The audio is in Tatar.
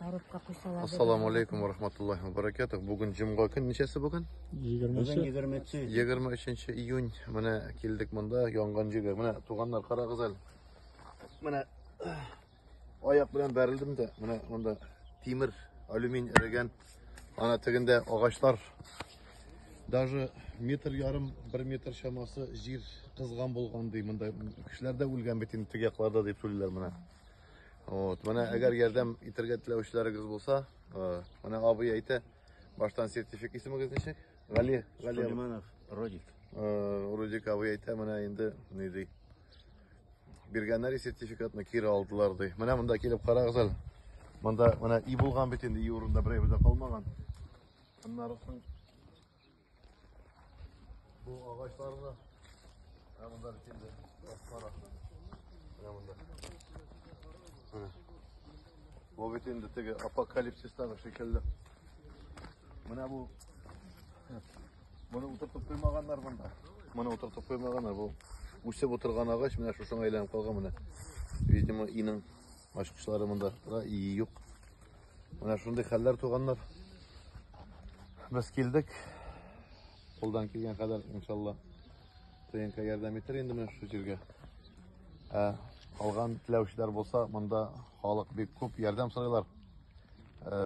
Арыпка куйсалар. Ассаламу алейкум ва рахматуллахи ва баракатух. Бүген җомга көн ничәсе бүген? 23 23 июнь. Менә килдек монда янган җиргә. Менә туганнар карагыз әле. Менә аяк белән бәрелдем дә, менә монда тимер, алюмин эрегән. Ана тегендә агачлар. Даже метр ярым, бер метр чамасы җир кызган булган ди. Монда кешеләр дә үлгән бит инде теге якларда дип сөйлиләр менә. Вот, менә әгәр ярдәм итәргә теләүчеләрегез булса, менә абый әйтә, баштан сертифик исемегез ничек? Гали, Гали. Сулейманов Родик. Родик абый әйтә, менә инде ни ди. Биргәннәр сертификатны кире алдылар ди. Менә монда килеп карагыз әле. Монда менә и булган бит инде, и урында берәй дә калмаган. Аннары Бу агачларны ә монда килде. Кара. Ә монда. Бу бит инде теге апокалипсистагы шикелле. Менә бу Моны утыртып куймаганнар монда. Моны утыртып куймаганнар. Бу үсеп утырган агач менә шушыңа әйләнеп калган менә. Видимо, иның ачкычлары монда да и юк. Менә шундый хәлләр туганнар. Без килдек. Кулдан килгән кадәр, иншалла, ТНК ярдәм итер инде менә шу җиргә. Ә алган теләүчеләр булса, монда халык бик күп ярдәм сорыйлар. Э,